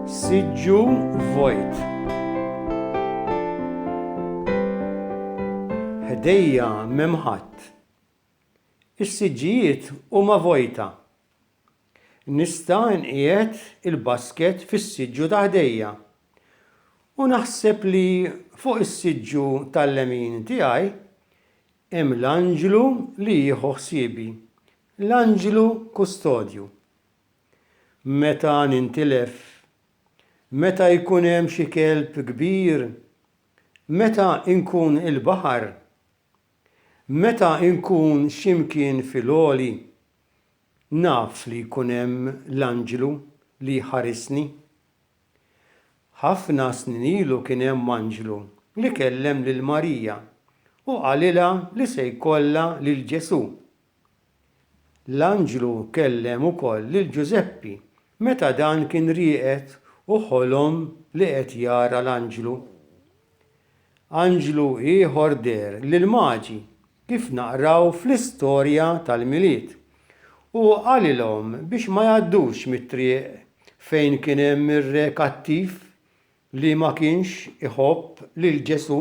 Siġġu vojt. Ħdejja memħat. Is-siġġijiet huma vojta. Nista' nqiegħed il-basket fis-siġġu ta' ħdejja. U naħseb li fuq is-siġġu tal-lemin tiegħi Hemm l-anġlu li jieħu ħsiebi, l-anġlu kustodju. Meta nintilef, meta jkun hemm xi kelb kbir, meta nkun il-baħar, meta nkun xi mkien fil-għoli, naf li jkun hemm l-anġlu li jħarisni. Ħafna snin ilu kien hemm anġlu li kellem lil Marija u qalilha li se jkollha lil Ġesù. L-anġlu kellem ukoll lil Ġużeppi meta dan kien rieqed u ħolom li qed jara l-anġlu. Anġlu ieħor deher lill-Maġi kif naqraw fl-istorja tal-Milied. Hu qalilhom biex ma jgħaddux mit-triq fejn kien hemm ir-re kattiv li ma kienx iħobb lil Ġesù.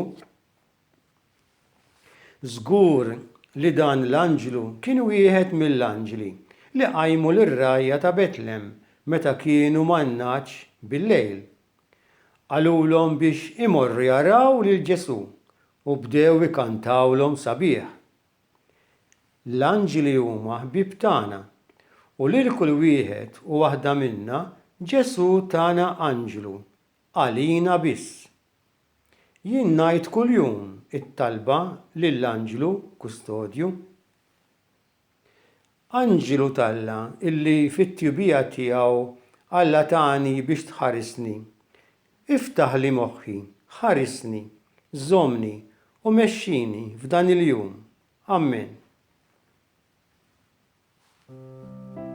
Żgur li dan l-anġlu kien wieħed mill-anġli li qajmu lir-rgħajja ta' Betlem meta kienu man-ngħaġ bil-lejl. Qalulhom biex imorru jaraw lil Ġesù U bdew ikantawlhom sabiħ. L-anġli huma ħbieb tagħna, u lil kull wieħed u waħda minna Ġesù tana anġlu, għalina biss. Jien ngħid kuljum it-talba lill-anġlu kustodju. Anġlu t'Alla, illi fit-tjubija tiegħu Alla tani biex tħarisni, iftaħli moħħi, ħarisni, żommni u mexxini f'dan il-jum. Ammen.